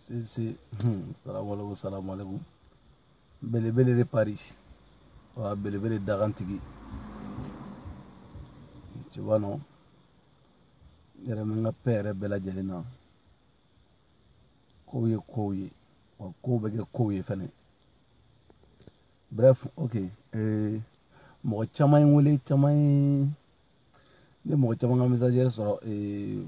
sese hmm, salamualeykum salamualeykum belebele de paris wa belebele dagantigi tu vois non yɛrɛ min ka pɛ yɛrɛ bɛɛ lajɛlen na kow ye kow ye wa kow bɛ kɛ kow ye fɛnɛ bref ok ee mɔgɔ caman ye n wele caman ye ne mɔgɔ caman ka message yɛrɛ sɔrɔ ee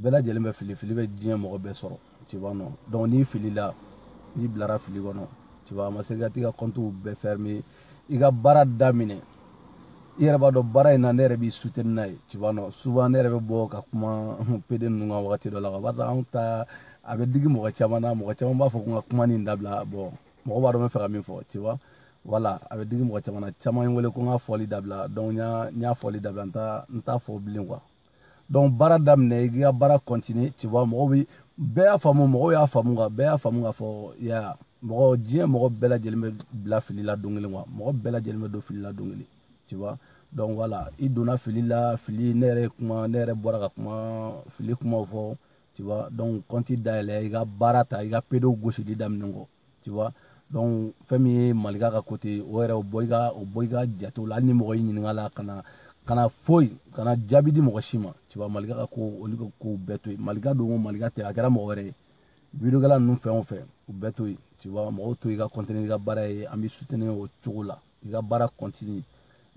bɛɛ lajɛlen bɛ fili fili bɛ diɲɛ mɔgɔ bɛɛ sɔrɔ tu vois non donc n'i filila n'i bilara fili kɔnɔ tu vois a ma se ka t'i ka kɔntiw bɛɛ fermé i ka baara daminɛ i yɛrɛ b'a dɔn baara in na ne yɛrɛ b'i soutenir n'a ye tu vois non souvent ne yɛrɛ bɛ bɔ ka kuma pede ninnu kan wagati dɔ la ka barisa anw ta a bɛ digi mɔgɔ caman na mɔgɔ caman b'a fɔ ko n ka kuma nin dabila bon mɔgɔ b'a dɔn n bɛ fɛ ka min fɔ tu vois voilà a bɛ digi mɔgɔ caman na caman ye n wele ko n k'a fɔli dabila donc n y'a fɔli dabila n t'a fɔ bilen quoi donc baara daminɛ i ka baara continue tu vois mɔgɔw bi bɛɛ y'a faamu mɔgɔw y'a faamu ka bɛɛ y'a faamu k'a fɔ ya mɔgɔ diɲɛ mɔgɔ bɛɛ lajɛlen bɛ bila fili la don kelen wa mɔgɔ bɛɛ lajɛlen bɛ don fili la don kelen tu vois donc voilà i donna fili la fili ne yɛrɛ kuma ne yɛrɛ bɔra ka kuma fili kumaw fɔ tu vois donc kɔnti dayɛlɛ i ka baara ta i ka pedow gosili daminɛ kɔ tu vois donc fɛn min ye malika ka kote o yɛrɛ o bɔ i ka o bɔ i ka jate la hali ni mɔgɔ y'i ɲininka la kana kana foyi kana jaabi di mɔgɔ si ma tu vois malika ka ko olu ka kow bɛɛ to yen malika don o malika tɛ a kɛra mɔgɔ wɛrɛ ye videokɛla ninnu fɛn o fɛn u bɛɛ to yen tu vois mɔgɔw to i ka kɔntini i ka baara ye an b'i soutenir o cogo la i ka baara kɔntini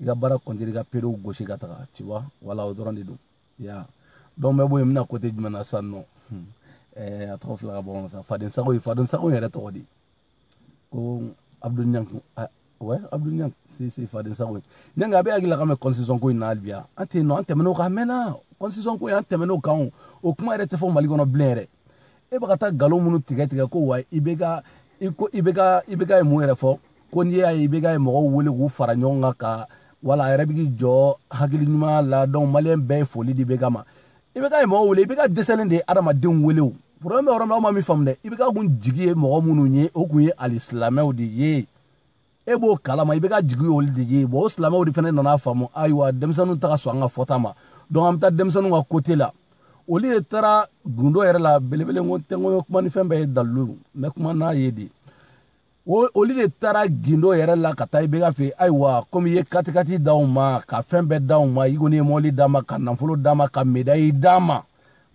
i ka baara kɔntini i ka pedow gosi ka taga tu vois voilà o dɔrɔn de don ya donc n bɛ bɔ yen n bɛna kote jumɛn na sisan nɔ hmm. eh, a tɔgɔ fila ka bɔ sa fadensago ye fadensago yɛrɛ tɔgɔ de ko abdoul niang ouais abdoul niang si si fadensago ye niang a b'a hakili la k'an bɛ constitution ko in na hali bi an tɛ yen nɔ an tɛmɛn'o kan a mɛnna constitution ko in an tɛmɛn'o kan o kuma yɛrɛ tɛ fɔ mali kɔnɔ bilen yɛrɛ e bɛ ka taa nkalon minnu tigɛ tigɛ ko wa IBK i ko IBK IBK ye mun yɛrɛ fɔ ko n'i y'a ye IBK ye mɔgɔw wele k'u fara ɲɔgɔn kan ka wala a yɛrɛ bɛ k'i jɔ hakili ɲuman la donc maliyɛn bɛɛ ye foli di IBK ma IBK mɔgɔw wele IBK dɛsɛlen de ye adamadenw wele o problème bɛ yɔrɔ min na aw ma min faamu dɛ IBK kun jigi ye mɔgɔ minnu ye o kun ye alisilamɛw de ye e b'o kalama IBK jigi olu de ye bon o silamɛw de fana nana faamu ayiwa denmisɛnninw tɛ ka sɔn an ka fɔta ma donc an bɛ taa denmisɛnninw ka kote la olu de taara gundo yɛrɛ la belebele ko tɛ ko kuma ni fɛn bɛɛ ye dalilu mais kuma n'a ye de o olu de taara gindo yɛrɛ la ka taa IBK fɛ ayiwa komi i ye katikati d'anw ma ka fɛn bɛɛ d'anw ma i kɔni ye mɔbili d'an ma ka nafolo d'an ma ka medayi d'an ma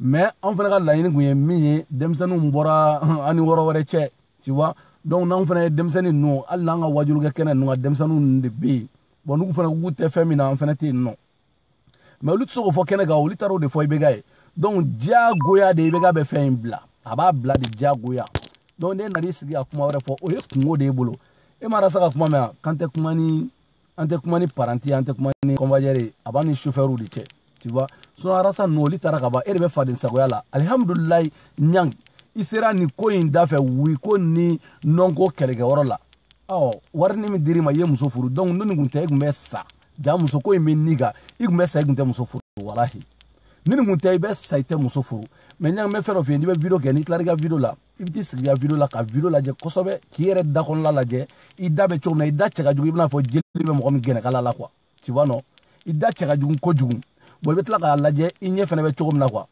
mais anw fana ka laɲini tun ye min ye denmisɛnninw bɔra an ni wɔrɔ wɛrɛ cɛ tu vois donc n'anw fana ye denmisɛnnin ninnu hali n'an ka waajulikɛ kɛnɛ ninnu kan denmisɛnninw ninnu de bɛ yen bon n'u fana k'u tɛ fɛn min na an fana tɛ yen nɔ mais olu tɛ se k'o fɔ kɛnɛ kan olu taara o de fɔ IBK ye donc diyagoya de IBK bɛ fɛn in bila a b'a bila de diyagoya donc n'e nan'i sigi ka kuma wɛrɛ fɔ o ye kunko de y'e bolo e ma rasa ka kuma mɛn yan k'an tɛ kuma ni an tɛ kuma ni paranti an tɛ kuma ni convoyeur a b'an ni sofɛriw de cɛ tu vois sinon arasa ninnu olu taara ka ban e de bɛ faden sagoya la alihamudulilayi ɲang i sera nin ko in da fɛ wi ko ni nɔn ko kɛlɛkɛyɔrɔ la ɔ warini min dir'i ma i ye muso furu donc n'o nin kun tɛ e kun bɛ sa jaa muso ko in bɛ ni kan i kun bɛ sa i kun tɛ muso furu walahi ni nin kun tɛ i bɛ sa i tɛ muso furu mais ɲang n bɛ fɛn dɔ f'i ye n'i bɛ video kɛ n'i tilara i ka video la i bɛ t'i sigi i ka video la ka video lajɛ kosɛbɛ k'i yɛrɛ da kɔnɔla lajɛ i da bɛ cogo min na i da cɛ ka jugu i bɛna fɔ jeli bɛ mɔgɔ min gɛnɛkala la quoi tu vois non i da cɛ ka jugu kojugu bon i bɛ tila k'a lajɛ i ɲɛ fana bɛ cogo min na quoi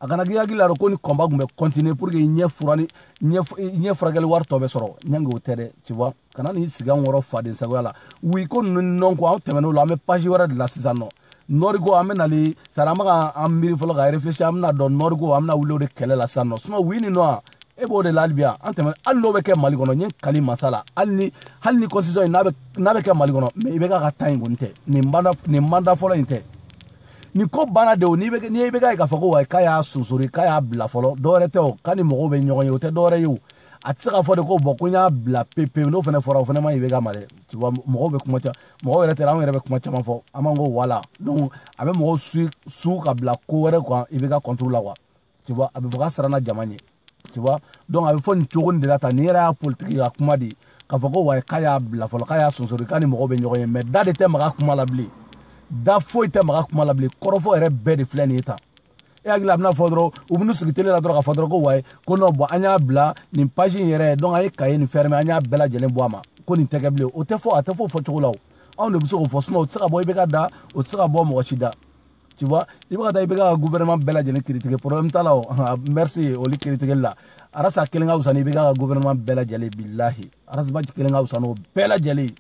a kana k'i hakili la dɛ ko ni combat kun bɛ continuer pour que i ɲɛ fura ni ɲɛ furakɛli wari tɔ bɛ sɔrɔ ɲang o tɛ dɛ tu vois kana n'i sigi an kɔrɔ faden sagoya la wi ko ninnu ni nɔn ko an tɛmɛn'o la an bɛ page wɛrɛ de la sisan nɔ nord ko an bɛ nali sari an bɛ ka an miiri fɔlɔ ka réfléchir an bɛna dɔn nord ko an bɛna wuli o de kɛlɛ la sisan nɔ sinon wi ni nɔn e b'o de la hali bi yan an tɛmɛ hali n'o bɛ kɛ mali kɔnɔ n ye n kali masa la hali ni hali ni constitution in n'a bɛ n'a bɛ kɛ mali kɔnɔ mais IBK ka temps in kɔni tɛ nin manda nin manda fɔlɔ in tɛ nin ko banna de o n'i bɛ n'i bɛ k'a ye k'a fɔ ko wayi k'a y'a surseoir k'a y'a bila fɔlɔ dɔwɛrɛ tɛ o k'a ni mɔgɔw bɛ ɲɔgɔn ye o tɛ dɔwɛrɛ ye o a tɛ se k'a fɔ de ko bon ko n y'a bila pewu pewu n'o fana fɔra o fana man ɲi IBK ma dɛ tu vois mɔgɔw bɛ kuma caman mɔgɔw yɛrɛ tɛ anw yɛrɛ bɛ kuma caman fɔ an b'an ko voilà donc a bɛ mɔgɔw su su ka bila ko wɛrɛ kan IBK contre la wa tu vois a bɛ fɔ k'a siranna jama ɲɛ tu vois donc a bɛ fɔ nin cogo nin de la tan nin yɛrɛ y'a politiki ka kuma de ye k'a fɔ ko wayi k'a y'a bila fɔlɔ k'a y'a surseoir k'a ni mɔgɔw bɛ ɲɔgɔn ye mais da de tɛ maga kuma la bilen da foyi tɛ maga kuma la bilen kɔrɔfɔ yɛrɛ bɛɛ de filɛ nin ye tan e hakili a bɛna fɔ dɔrɔn u bɛna sigi tele la dɔrɔn k'a fɔ dɔrɔn ko wayi ko non bon an y'a bila nin page in yɛrɛ donc an ye kaye nin fermer an y'a bɛɛ lajɛlen bɔ a ma ko nin tɛ kɛ bilen o tɛ fɔ a tɛ fɔ o fɔcogo la o anw de bɛ se k'o fɔ sinon o tɛ se ka bɔ IBK da o tɛ se ka bɔ mɔgɔ si da tu vois i bɛ ka taa IBK ka gouvernement bɛɛ lajɛlen critiquer problème t'a la o merci olu critiquer la arasa kelen ka wusa ni IBK ka gouvernement bɛɛ lajɛlen bilahi arasaba kelen ka wusa n'o bɛɛ lajɛlen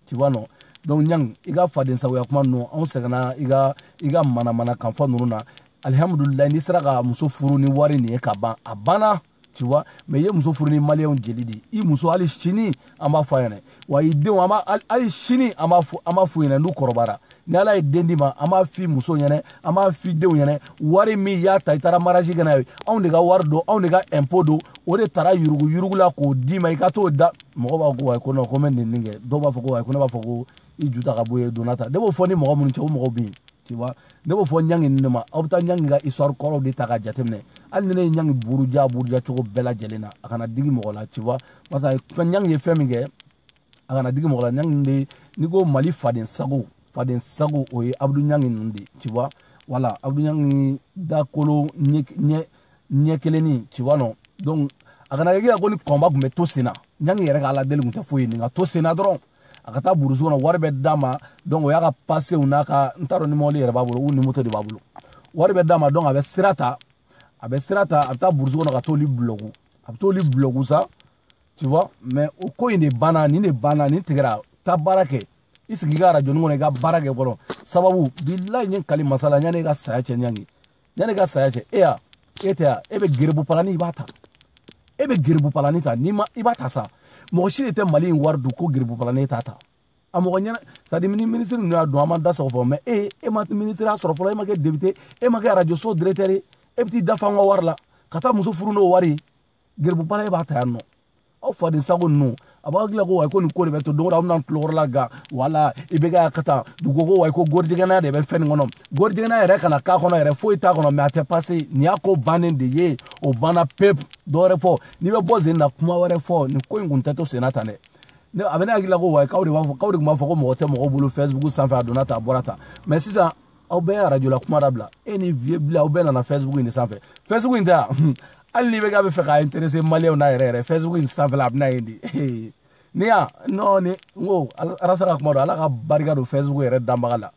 tu vois non donc ɲang i ka faden sagoya kuma ninnu anw sɛgɛnna i ka i ka manamanakan fɔ ninnu na alihamudulilayi n'i sera ka muso furu ni wari nin ye ka ban a banna tu vois mais i ye muso furu ni maliyɛnw jeli de i muso hali sini an b'a fɔ a ɲɛna wa i denw an b'a hali sini an b'a fɔ an b'a f'u ɲɛna n'u kɔrɔbayara ni ala ye den d'i ma an b'a f'i muso ɲɛna an b'a f'i denw ɲɛna wari min y'a ta i taara mariage kɛ n'a ye anw de ka wari don anw de ka impôt don o de taara yurugu yurugu la k'o d'i ma i ka t'o da mɔgɔ b'a ko wayi ko non ko n bɛ nin nin kɛ dɔw b'a fɔ ko wayi ko ne b'a fɔ ko i ju ta ka bɔ ye donna ta ne b'o fɔ ni mɔgɔ minnu cɛ o mɔgɔw bɛ yen tu vois ne b'o fɔ ɲangi ninnu de ma aw bɛ taa ɲangi ka histoire kɔrɔw de ta ka jateminɛ hali ni ne ye ɲangi buruja buruja cogo bɛɛ lajɛlen na a kana digi mɔgɔ la tu vois parce que ɲangi ye fɛn min kɛ a kana digi mɔgɔ la ɲangi de n'i ko mali faden sago faden sago o ye abudu ɲangi ninnu de tu vois voilà abudu ɲangi dakolo ɲɛ ɲɛ ɲɛ kelenni tu vois non donc a kana kɛ ko nin combat tun bɛ to sen na ɲangi yɛrɛ ka ala deli tun tɛ foyi ye nin ka to sen na dɔrɔn a ka taa burusu kɔnɔ wari bɛ d'a ma donc o y'a ka pasew n'a ka n t'a dɔn ni mɔbili yɛrɛ b'a bolo ou ni moto de b'a bolo wari bɛ d'a ma donc a bɛ sira ta a bɛ sira ta a bɛ taa burusu kɔnɔ ka t'olu bulɔku a bɛ t'olu bulɔku sa tu vois mais o ko in de banna nin de banna nin tigɛra taa baara kɛ i sigi i ka arajo nin kɔnɔ i ka baara kɛ fɔlɔ sababu bilayi n ye kali masa la yanni i ka saya cɛ ɲangi yanni i ka saya cɛ e y'a e tɛ yan e bɛ geribu palani i b'a ta e bɛ geribu palani ta n'i ma i b'a ta sa mɔgɔ si de tɛ mali in wari dun ko geribu palani e t'a ta a mɔgɔ ɲɛna c'est à dire ni minisiri ninnu y'a dɔn an ma da sɔgɔ fɔ mais e e ma minisiriya sɔrɔ fɔlɔ e ma kɛ député e ma kɛ arajo so directeur e bɛ t'i da fa an ka wari la ka taa muso furu n'o wari ye geribu palan e b'a ta yan nɔ aw faden sago ninnu a b'a hakili la ko wayi ko nin ko de bɛ to don o don aw bɛna tulokɔrɔ la gan wala IBK ka taa dugu ko wayi ko gɔrijɛgɛnaya de bɛ fɛn nin kɔnɔ gɔrijɛgɛnaya yɛrɛ kana k'a kɔnɔ yɛrɛ foyi t'a kɔnɔ mais a tɛ passer nin y'a ko bannen de ye o banna pepu dɔ wɛrɛ fɔ n'i bɛ bɔ sen na kuma wɛrɛ fɔ nin ko in kun tɛ to senna tan dɛ ne a bɛ ne hakili la ko wayi k'aw de b'a fɔ k'aw de tun b'a fɔ ko mɔgɔ tɛ mɔgɔ bolo facebook sanfɛ a donna tan a bɔra tan mais sisan aw bɛɛ ye arajo la kuma dabila e ni vieux blen aw bɛɛ nana facebook in de sanfɛ facebook in tɛ yan hali ni IBK b'a fɛ k'a intéresser maliyɛnw na yɛrɛ yɛrɛ facebook in sanfɛla a bɛna yen de ne y'a nɔ ni n ko arasa ka kuma don ala ka barika don facebook yɛrɛ danbaga la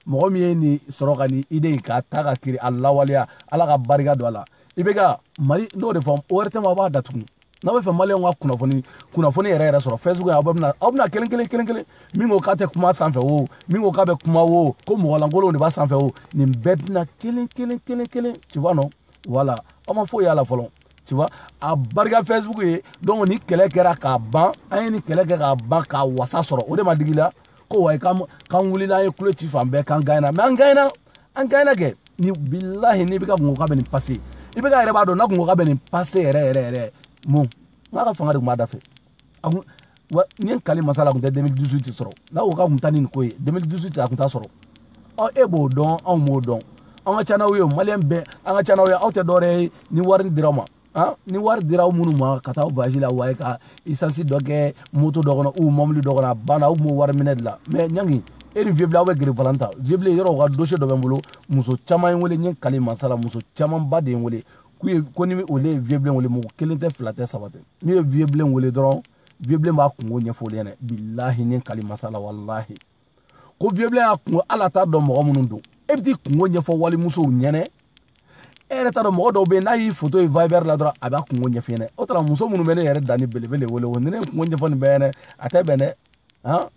mɔgɔ min ye nin sɔrɔ ka nin idée in k'a ta ka kiri a lawaleya ala ka barika don a la IBK mali n'o de fɔ o wɛrɛ tɛ ma a b'a datugu n'a bɛ fɛ maliyɛnw ka kunnafoni kunnafoni yɛrɛ yɛrɛ sɔrɔ facebook aw bɛna aw bɛna kelen kelen kelen kelen min ko k'a tɛ kuma sanfɛ o min ko k'a bɛ kuma o ko mɔgɔ lankolonw de b'a sanfɛ o nin bɛɛ bɛna kelen kelen kelen kelen tu vois non voilà aw ma foyi y'a la fɔlɔ tu vois abarika facebook ye donc nin kɛlɛ kɛra k'a ban an ye nin kɛlɛ kɛ k'a ban k'a wasa sɔrɔ o de ma digi la ko wayi k'an wulila an ye kulo ci fan bɛɛ k'an gagnera mais an gagner an gagnena kɛ ni bilahi ni IBK kun ko k'a bɛ nin passer IBK yɛrɛ b'a dɔn n'a kun ko k'a bɛ nin passer yɛrɛ yɛrɛ yɛrɛ mun n k'a ka fanga de tun b'a da fɛ a kun wa n ye n kali masa la a kun tɛ 2018 sɔrɔ n'a ko k'a kun taa ni nin ko ye 2018 a kun t'a sɔrɔ ɔ e b'o dɔn anw b'o dɔn an ka ca n'aw ye maliyɛn bɛɛ an ka ca n'aw ye aw tɛ dɔwɛrɛ ye ni wari dira aw ma ni wari dira aw minnu ma ka taa voyage la wayi ka essence dɔ kɛ moto dɔ kɔnɔ ou mɔbili dɔ kɔnɔ a banna aw tun b'o wari minɛ de la mais ɲangi e ni vieux blen aw bɛ geribu palan ta vieux blen yɔrɔ u ka dossier dɔ bɛ n bolo muso caman ye n wele n ye kali masa la muso camanba de ye n wele k'u ye ko ni olu ye vieux blen wele mɔgɔ kelen tɛ fila tɛ saba tɛ n'u ye vieux blen wele dɔrɔn vieux blen b'a kunko ɲɛfɔ olu ɲɛna bilahi n ye kali masa la walahi ko vieux bilen y'a kungo ala t'a dɔn mɔgɔ minnu don e bɛ t'i kungo ɲɛfɔ walimusow ɲɛnɛ e yɛrɛ t'a dɔn mɔgɔ dɔw bɛ yen n'a y'i foto ye viber la dɔrɔn a b'a kungo ɲɛf'i ɲɛnɛ o tuma muso minnu bɛ ne yɛrɛ dani belebele wele o ni ne ye kungo ɲɛfɔ nin bɛɛ ɲɛnɛ a tɛ bɛn dɛ han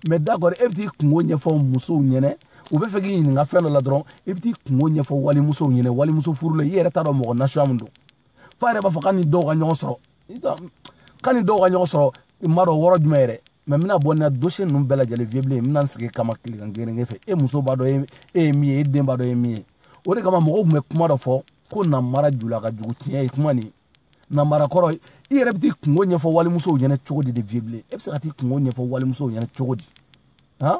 mais d'accord e bɛ t'i kungo ɲɛfɔ musow ɲɛnɛ u bɛ fɛ k'i ɲininka fɛn dɔ la dɔrɔn i bɛ t'i kungo ɲɛfɔ walimusow ɲɛnɛ walimuso furulen i yɛrɛ t'a dɔn mɔgɔ nasuya min don f'a yɛrɛ b'a fɔ k'a ni dɔw ka ɲɔgɔn sɔrɔ k'a ni dɔw ka ɲɔgɔn sɔrɔ i m'a dɔn wɔrɔ jumɛn yɛrɛ mais n bɛna bɔ ni dossier ninnu bɛɛ lajɛlen vieux bilen n bɛna n sigi kama tilegan gerenge fɛ e muso b'a dɔn e ye min ye e den b'a dɔn e ye min ye o de kama mɔgɔw tun bɛ kuma dɔ fɔ ko namara jula ka jugu tiɲɛ ye kuma nin namara kɔrɔ i yɛrɛ bɛ t'i kungo ɲɛfɔ walimusow ɲɛna cogo di de vieux bilen e bɛ se ka t'i kungo ɲɛfɔ walimusow ɲɛna cogo di han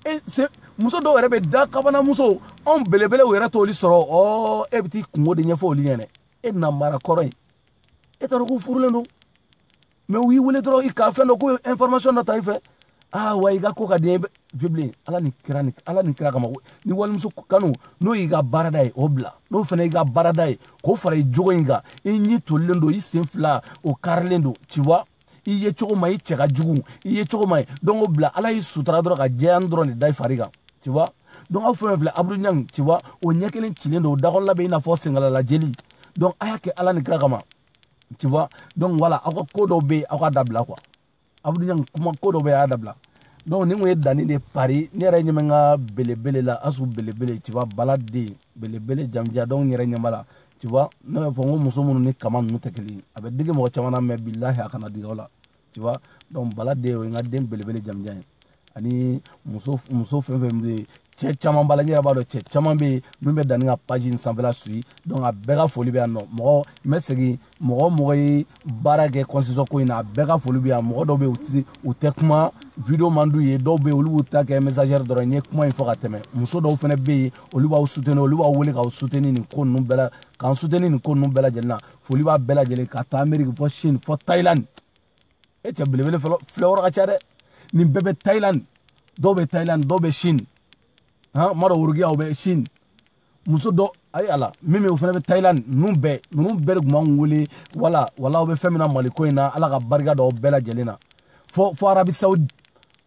e se muso dɔw yɛrɛ bɛ dakabana musow anw belebelew yɛrɛ t'olu sɔrɔ ɔ e bɛ t'i kungo de ɲɛfɔ olu ɲɛna e namara kɔrɔ ye e t'a dɔn k'u furulen don mais u y'i wele dɔrɔn i ka fɛn dɔ ko information dɔ ta i fɛ aa ah, wa i ka ko ka di vieux bilen ala ni kira ni ala ni kira kama ni walimuso kanu n'o y'i ka baarada ye o bila n'o fana y'i ka baarada ye k'o fara i jogo in kan i ɲi tolilen don i sen fila o karilen don tu vois i yecogo man ɲi i cɛ ka jugu i yecogo man ɲi donc o bila ala y'i sutura dɔrɔn ka jɛyani dɔrɔn de da i fari kan tu vois donc aw fɛn fɛn filɛ abdoul niang tu vois o ɲɛ kelen cilen don o dakɔnɔla bɛ i n'a fɔ sengalala jeli donc a y'a kɛ ala ni kira kama tu vois donc voilà aw ka ko dɔw bɛ yen aw k'a dabila quoi abdoul niang kuma ko dɔw bɛ yen a y'a dabila donc nin kun ye dani de paris ne yɛrɛ ɲɛ bɛ n ka belebele la asu belebele tu vois bala den belebele jamujan donc n yɛrɛ ɲɛ b'a la tu vois ne b'a fɔ n ko muso minnu ni kama ninnu tɛ kelen ye a bɛ digi mɔgɔ caman na mais bilahi a kana digi aw la tu vois donc bala den o ye n ka den belebele jamujan ye ani muso muso fɛn fɛn bɛ yen cɛ caman b'a la n yɛrɛ b'a dɔn cɛ caman bɛ yen min bɛ dani ka page in sanfɛla suivi donc a bɛɛ ka foli bɛ yan nɔ mɔgɔ n bɛ segin mɔgɔ mɔgɔ ye baara kɛ constitution ko in na a bɛɛ ka foli bɛ yan mɔgɔ dɔw bɛ yen u tɛ kuma video man d'u ye dɔw bɛ yen olu b'u ta kɛ message ye dɔrɔn n ye kuma in fɔ ka tɛmɛ muso dɔw fana bɛ yen olu b'aw soutenir olu b'aw wele k'aw soutenir nin ko ninnu bɛɛ la k'an soutenir nin ko ninnu bɛɛ lajɛlen na foli b'a bɛɛ lajɛlen ka taa ameriki fɔ chine fɔ thailand e cɛ belebele filɛ yɔrɔ ka ca dɛ nin bɛɛ bɛ thailand dɔw bɛ thailand dɔw bɛ chine han ma dɔ worokiyaw bɛ chine muso dɔ ayi ala min bɛ o fana bɛ thailand ninnu bɛɛ ninnu bɛɛ de tun b'an wele wala wala aw bɛ fɛn min na mali ko in na ala ka barika don aw bɛɛ lajɛlen na fɔ fɔ arabi saudi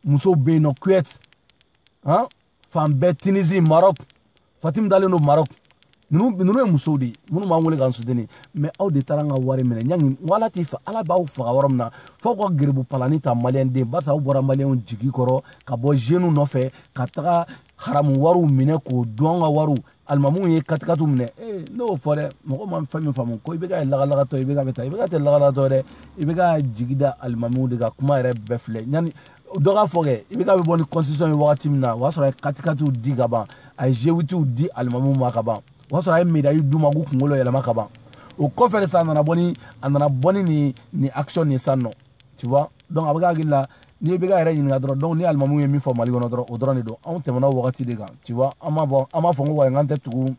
musow bɛ yen nɔ kuwait han fan bɛɛ tinizi marɔk fatim dalen don marɔk ninnu ninnu ye musow de ye minnu b'an wele k'an soutenir mais aw de taara an ka wari minɛ niang n ko ala t'i fa ala b'aw faga yɔrɔ min na f'aw ka gerebu palani ta maliyɛnden barisa aw bɔra maliyɛnw jigi kɔrɔ ka bɔ zenu nɔfɛ ka taga haramu wariw minɛ k'o dun an ka wariw alimamuw ye katikatu minɛ ee ne y'o fɔ dɛ mɔgɔ ma fɛn min faamu ko i bɛ ka lagalagatɔ i bɛ ka bɛ taa i bɛ ka tɛ lagalagatɔ dɛ i bɛ ka jigi da alimamuw de ka kuma yɛrɛ bɛɛ filɛ yanni dɔ k'a fɔ kɛ i bɛ ka bɛ bɔ ni constitution ye wagati min na o y'a sɔrɔ a ye katikatiw di ka ban a ye vewitiw di alimamuw ma ka ban o y'a sɔrɔ a ye medayi d'u ma k'u kunkolo yɛlɛma ka ban o kɔfɛ de sa a nana bɔ ni a nana bɔ ni nin nin action nin san nɔ tu vois donc a bɛ k'a hakili la n'i bɛ ka yɛrɛ ɲininka dɔrɔn donc ni alimamuw ye min fɔ mali kɔnɔ dɔrɔn o dɔrɔn de don anw tɛmɛna o wagati de kan tu vois an m'a bɔ an m'a fɔ ko wayi n k'an tɛ tugu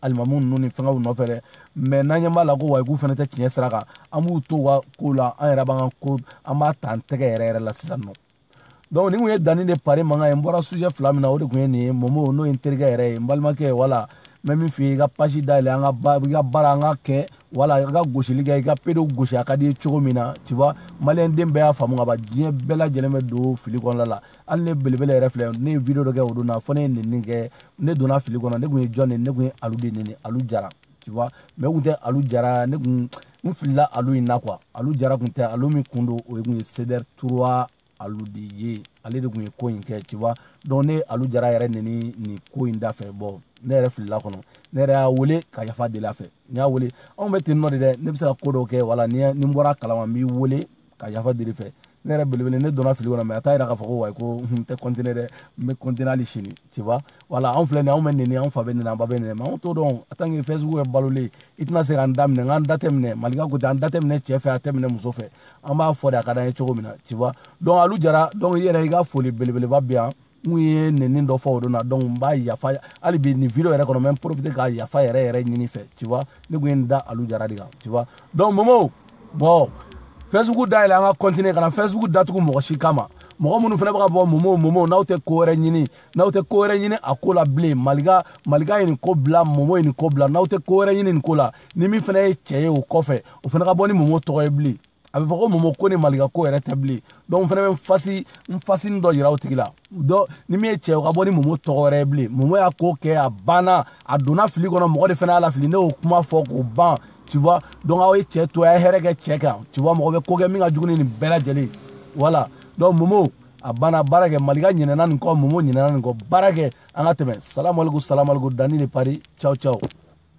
alimamuw ninnu ni fɛngɛw nɔfɛ dɛ mais n'an ɲɛ b'a la ko wayi k'u fana tɛ tiɲɛ sira kan an b'u to u ka ko la an yɛrɛ b'an ka ko an b'a ta an tɛgɛ yɛrɛ yɛrɛ la sisan nɔ donc nin kun ye dani de paris mankan ye n bɔra sujet fila min na o de kun ye nin ye momo n'o ye n terikɛ yɛrɛ ye n balimakɛ wala n bɛ min f'i ye i ka page dayɛlɛ an ka i ka baara an ka kɛ wala i ka gosili kɛ i ka pedow gosi a ka d'i ye cogo min na tu vois maliyɛn den bɛɛ y'a faamu ka ban diɲɛ bɛɛ lajɛlen bɛ don fili kɔnɔna la hali ne belebele yɛrɛ filɛ ne ye video dɔ kɛ o don na fɔ ne ye nɛni kɛ ne donna fili kɔnɔ ne kun ye jɔn de ye ne kun ye alu de nɛni alu jara tu vois mais o kun tɛ alu jara ne kun n filila alu in na quoi alu jara kun tɛ alu min kun don o kun ye cdr trois alu de ye ale de kun ye ko in kɛ tu vois donc ne alu jara yɛrɛ nɛni nin ko in da fɛ bon ne yɛrɛ filila kɔnɔ ne yɛrɛ y'a wele ka yafa deli a fɛ n y'a wele anw bɛ ten nɔ de dɛ ne bɛ se ka ko dɔw kɛ wala ni n bɔra kalama n b'i wele ka yafa deli i fɛ ne yɛrɛ belebele ne donna fili kɔnɔ mais a t'a yira k'a fɔ ko wayi ko n tɛ continuer dɛ n bɛ continuer hali sini tu vois wala anw filɛ nin anw bɛ nɛni anw fa bɛ nɛni an ba bɛ nɛni mais anw t'o dɔn en tant que facebook bɛ balolen i tɛna se k'an da minɛ n k'an da tɛ minɛ malika ko tɛ an da tɛ minɛ cɛ fɛ a tɛ minɛ muso fɛ an b'a fɔ de a ka d'an ye cogo min na tu vois donc alu jara donc i yɛrɛ i ka foli belebeleba bɛ yan n kun ye nɛni dɔ fɔ o don na donc n b'a yafa hali bi nin video yɛrɛ kɔnɔ n bɛ n profiter ka yafa yɛrɛ yɛrɛ ɲini i fɛ tu vois ne kun ye n da alu jara de kan tu vois donc momo bon facebook dayɛlɛ an ka continuer kana facebook datugu mɔgɔ si kama mɔgɔ minnu fana bɛ ka bɔ momo momo n'aw tɛ ko wɛrɛ ɲini n'aw tɛ ko wɛrɛ ɲini a ko la bilen malika malika ye nin ko bila momo ye nin ko bila n'aw tɛ ko wɛrɛ ɲini nin ko la ni min fana ye cɛ ye o kɔfɛ o fana ka bɔ ni momo tɔgɔ ye bilen a bɛ fɔ ko momo ko ni malika ko yɛrɛ tɛ bilen donc n fana bɛ n fasi n fasini dɔ yira o tigi la donc ni min ye cɛ o ka bɔ ni momo tɔgɔ wɛrɛ ye bilen momo y'a ko kɛ a banna a donna fili kɔnɔ mɔgɔ de fana y'a lafili ne y'o kuma fɔ k'o ban tu vois donc aw ye cɛ to a ye hɛrɛ kɛ cɛ kan tu vois mɔgɔ bɛ ko kɛ min ka jugu ni nin bɛɛ lajɛlen voilà donc momo a banna baara kɛ malika ɲinɛna nin kɔ momo ɲinɛna nin kɔ baara kɛ an ka tɛmɛ salamalekum salamalekum dani de paris ciao ciao